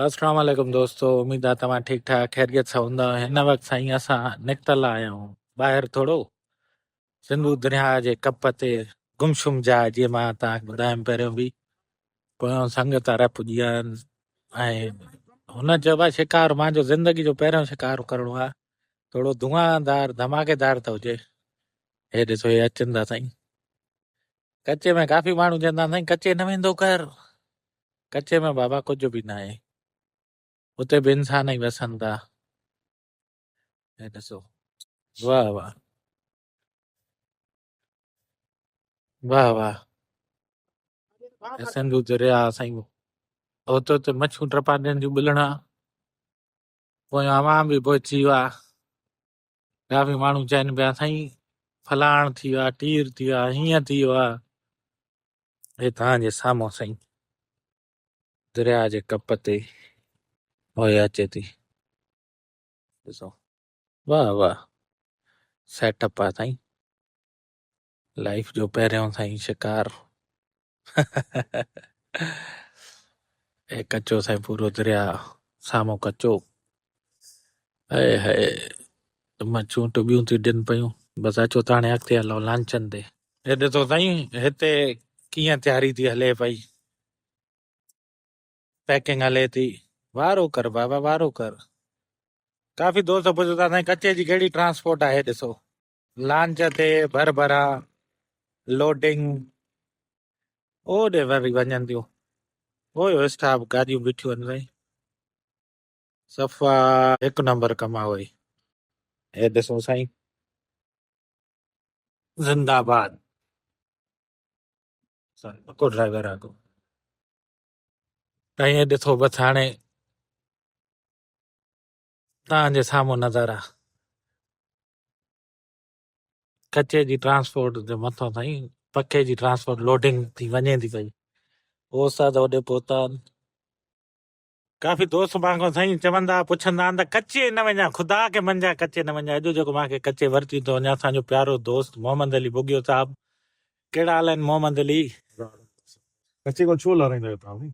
اسلام عليڪم دوستو اميد آ توهان ٺيڪ ٺاڪ خيريت سان هوندا هن وقت سائين اسان نڪتل آهيون ٻاهر ٿورو سنڌو درياء جي ڪپ تي گمشم جاء جي مان توهان ٻڌايم پهريون به پويان سنگت عرب پڄي ويا آهن ۽ هن چيو آهي شڪار مان جو زندگي جو پهريون شڪار ڪرڻو آهي ٿورو دعادار ڌماڪيدار ته هجي هي ڏسو هي اچن ٿا سائين ڪچي ۾ ڪافي ماڻهو چوندا سائين ڪچي نه ويندو ڪر ڪچي ۾ بابا ڪجهه به نه آهي اتي به انسان ئي وسن ٿا هي ڏسو واهه واهه واهه واهه هي سنڌو دريا سائين هت هت مڇون ٽپا ڏين جون ٻلڻا پويان اوهان به پوء ٿي ويا ڪافي ماڻهو چئن پيا سائين فلاڻ ٿي ويو آ ٽير ٿي ويو آ هيئن ٿي ويو آ هي توهان جي سامهون سائين درياء جي ڪپ تي هوء اچي ٿي ڏسو واه واه سيٽ اپ آ سائين لائيف جو پهريون سائين شڪار اي ڪچو سائين پورو دريا سامو ڪچو اي هي مچون ٽبيون ٿي ڏين پيون بس اچو ته هاڻي اڳتي هلو لانچن تي هي ڏسو سائين هتي ڪيئن تياري ٿي هلي پئي پيڪنگ هلي ٿي وارو ڪر بابا وارو ڪر ڪافي دوست پڇن ٿا سائين ڪچي جي ڪهڙي ٽرانسپورٽ آهي ڏسو لانچ تي ڀرڀرا لوڊنگ اوڏي وري وڃن ٿيون اوئي اوئي اسٽاف گاڏيون بيٺيون آهن سائين صفا هڪ نمبر ڪم آ اوئي هي ڏسو سائين زنده آباد سائين پڪو ڊرائيور آ ڪو سائين هي ڏسو بس هاڻي توهان جي سامهون نظر آ ڪچي جي ٽرانسپورٽ جي مٿان تائين پکي جي ٽرانسپورٽ لوڊنگ ٿي وڃي ٿي پئي هو استاد اوڏي پهتا ڪافي دوست مان کان سائين چوندا پڇندا آهن ته ڪچي نه وڃا خدا کي منجا ڪچي نه وڃا اڄ جيڪو مانکي ڪچي ورتي ته وڃا اسان جو پيارو دوست محمد علي بگيو صاحب ڪهڙا حال آهن محمد علي ڪچي کان ڇو لارائيندا آهيو توهان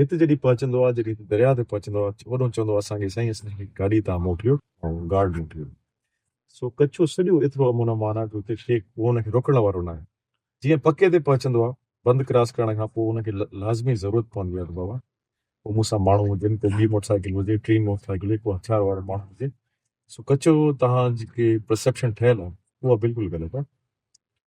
هت جڏهن پهچندو آ، جڏهن هت درياء تي پهچندو آ، اوڏهون چوندو آ اسان کي سائين اسان کي گاڏي تان موڪليو ۽ گارڊ موڪليو. سو ڪڇو سڄو ايترو امن امان آ جو اتي ڪي ڪو ان کي روڪڻ وارو ناهي. جيئن پڪي تي پهچندو آ، بند ڪراس ڪرڻ کان پوء ان کي لازمي ضرورت پوندي آ ته بابا ڪو مون سان ماڻهو هجن، ڪو ٻي موٽر سائيڪل هجي، ٽين موٽر سائيڪل هجي، ڪو هٿيار وارو ماڻهو هجي. سو ڪڇو تهان جي ڪي پرسيپشن ٺهيل آ، اها بلڪل غلط آ.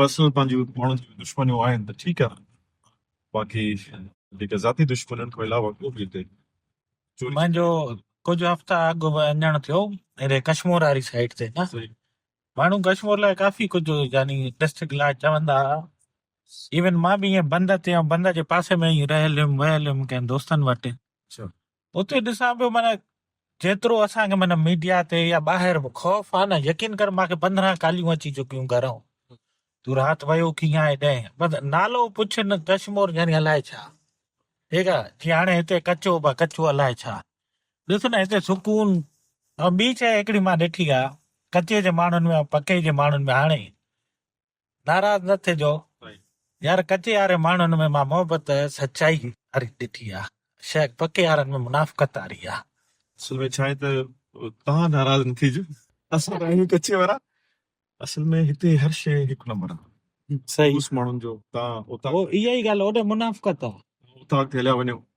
پرسنل پنهنجي ماڻهن جي دشمنيون آهن ته ٺيڪ آهي باقي جيڪي ذاتي دشمنين کان علاوه ڪو به هتي چوري منهنجو ڪجهه هفتا اڳ به اڃڻ ٿيو هيڏي ڪشمور واري سائيڊ تي نه صحيح ماڻهو ڪشمور لاء ڪافي ڪجهه يعني ڊسٽرڪٽ لاء چوندا هئا ايون مان به ائين بند تي ۽ بند جي پاسي ۾ ئي رهيل هيم ويل هيم ڪنهن دوستن وٽ اچھا اتي ڏسان پيو معنيٰ جيترو اسان کي معنيٰ ميڊيا تي يا ٻاهر به خوف آ نه يقين ڪر مانکي پندرهن ڪاليون اچي چڪيون گهرئون تون رات ويو ڪيئن آهي ڏهين بس نالو پڇ نه ڪشمور يعني الائي ڇا ٺيڪ آ جي هاڻي هتي ڪچو با ڪچو الائي ڇا ڏس نه هتي سڪون ۽ ٻي شي هڪڙي مان ڏٺي آ ڪچي جي ماڻهن ۾ ۽ پڪي جي ماڻهن ۾ هاڻي ناراض نه ٿجو يار ڪچي ياري ماڻهن ۾ مان محبت سچائي واري ڏٺي آ شيخ پڪي يارن ۾ منافقت واري آ. اصل ۾ ڇا آهي ته توهان ناراض نه ٿيجو اسان ته آهيون ڪچي وارا اصل ۾ هتي هر شيء هڪ نمبر آ صحيح خلوص ماڻهن جو تان اتان اها ئي ڳالهه هوڏي منافقت آ. اتان کي هليا وڃو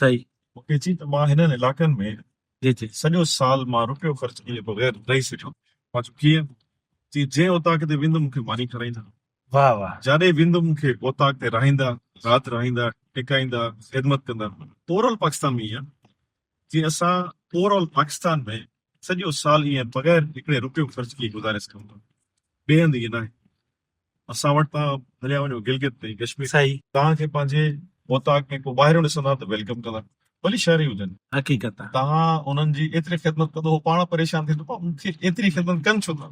صحيح. مون کي چي ته مان هنن علاقن ۾ جي جي. سڄو سال مان رپيو خرچ ڪيئي بغير رهي سگهيو. مان چيو ڪيئن؟ چي جنهن اوطاق تي ويندم مون کي ماني کارائيندا. واهه واهه. جاڏي ويندم مون کي اوطاق تي رهائيندا، رات رهائيندا، ٽڪائيندا، خدمت ڪندا. اوور آل پاڪستان ۾ ائين آهي. جي اسان اوور آل پاڪستان ۾ سڄو سال ائين بغير هڪڙي رپيو خرچ ڪيئي گذاري سگهون ٿا. ٻئي هنڌ ائين ناهي. اسان وٽ تان هليا وڃو گلگت تي ڪشمير صحيح. توهان کي پنهنجي اوطاق ۾ ڪو ٻاهريون ڏسندا ته ويلڪم ڪندا ڀلي شهري هجن. حقيقت آ. توهان انهن جي ايتري خدمت ڪندو هو پاڻ پريشان ٿيندو پاڻ مون کي ايتري خدمت ڪن ڇو ٿا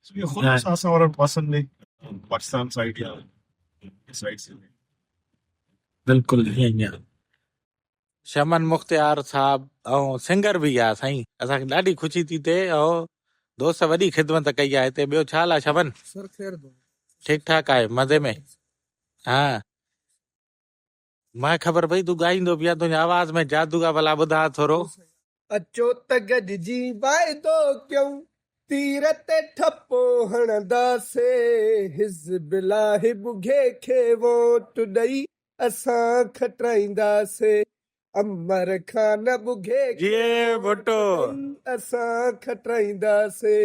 سو اهو خود اسان اسان وارن پاسن ۾ پاڪستان سائيڊ يا سائيڊ سي ۾ بلڪل ائين ئي آ. شمن مختيار صاحب ۽ سنگر به يا سائين اسان کي ڏاڍي خوشي ٿي ٿئي ۽ دوست وڏي خدمت ڪئي آ هتي ٻيو ڇا حال آ شمن سر خير دو ٺيڪ ٺاڪ آهي مزي ۾ ها مانکي خبر پئي تون ڳائيندو به آ تنهنجي آواز ۾ جادو آ ڀلا ٻڌاء ٿورو اچو ته گڏجي واعدو ڪيون، تير تي ٺپو هڻنداسين، حزب الله ٻگهي کي ووٽ ڏئي اسان کٽرائينداسين، عمر خان ٻگهي کي ووٽ ڏئي اسان کٽرائينداسين،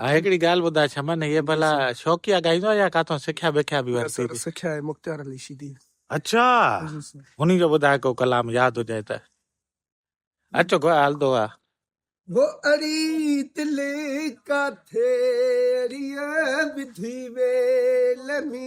ها هڪڙي ڳالهه ٻڌاء شمن هيء ڀلا شوقيا ڳائيندو آهي يا ڪاٿو سکيا بکيا به ورتي ٿي؟ سکيا آهي مختيار علي شيدي. اڇا انهي جو ٻڌاء ڪو ڪلام ياد هجئي ته. اچو گو هلندو آ. هو اڙي دل ڪاٿي اڙيء وڌي ويل ۾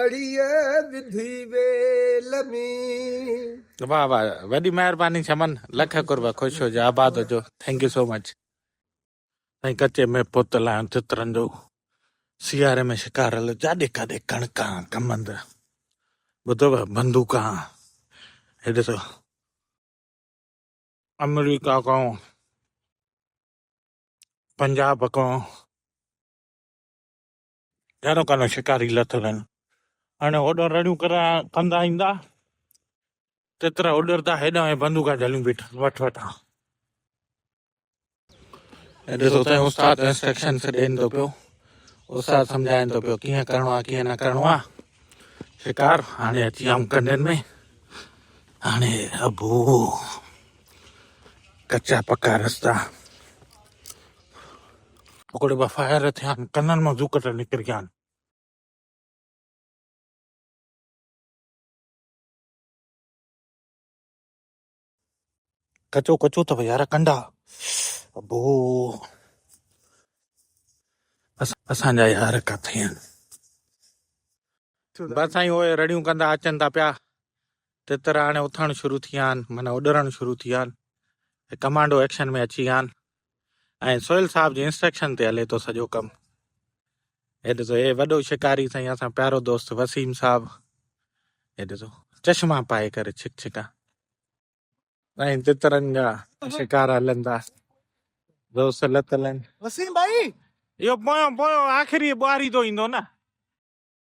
اڙيء وڌي ويل ۾. واھ واھ وڏي مهرباني شمن لک قرب خوش هجو آباد هجو ٿينڪ يو سو مچ. سائين ڪچي ۾ پوتل آهيان تترن جو سياري ۾ شڪارل جاڏي ڪاڏي ڪڻڪان ڪمند ٻڌو پيا بندوقان هي ڏسو آمريڪا کان پنجاب کان جانو ڪانو شڪاري لٿل آهن هاڻي هوڏانهن رڙيون ڪندا ايندا تيترا اڏردا هيڏانهن ۽ بندوقا جهليون بيٺا وٺ وٺان ۽ ڏسو تنهن استاد انسٽرڪشنس ڏين ٿو پيو استاد سمجھائين ٿو پيو ڪيئن ڪرڻو آهي ڪيئن نه ڪرڻو آهي شڪار هاڻي اچي آيم ڪنڊن ۾ هاڻي ابو ڪچا پڪا رستا ٻڪڙ به فائر ٿيان، ڪنن مان زوڪٽ نڪريان. ڪچو ڪچو اٿو يار ڪنڊا. ابو اسان جا يار ڪٿي آهن. بس سائين اوهي رڙيون ڪندا اچن ٿا پيا تتر هاڻي اٿڻ شروع ٿي ويا آهن معنيٰ اڏرڻ شروع ٿي ويا آهن ۽ ڪمانڊو ايڪشن ۾ اچي ويا آهن ۽ سهيل صاحب جي انسٽرڪشن تي هلي ٿو سڄو ڪم هي ڏسو هي وڏو شڪاري سائين اسان پيارو دوست وسيم صاحب هي ڏسو چشما پائي ڪري ڇڪ ڇڪا سائين تترن جا شڪار هلن ٿا دوست لتلن وسيم ڀائي اهو پويو پويو آخري ٻواري تو ايندو نه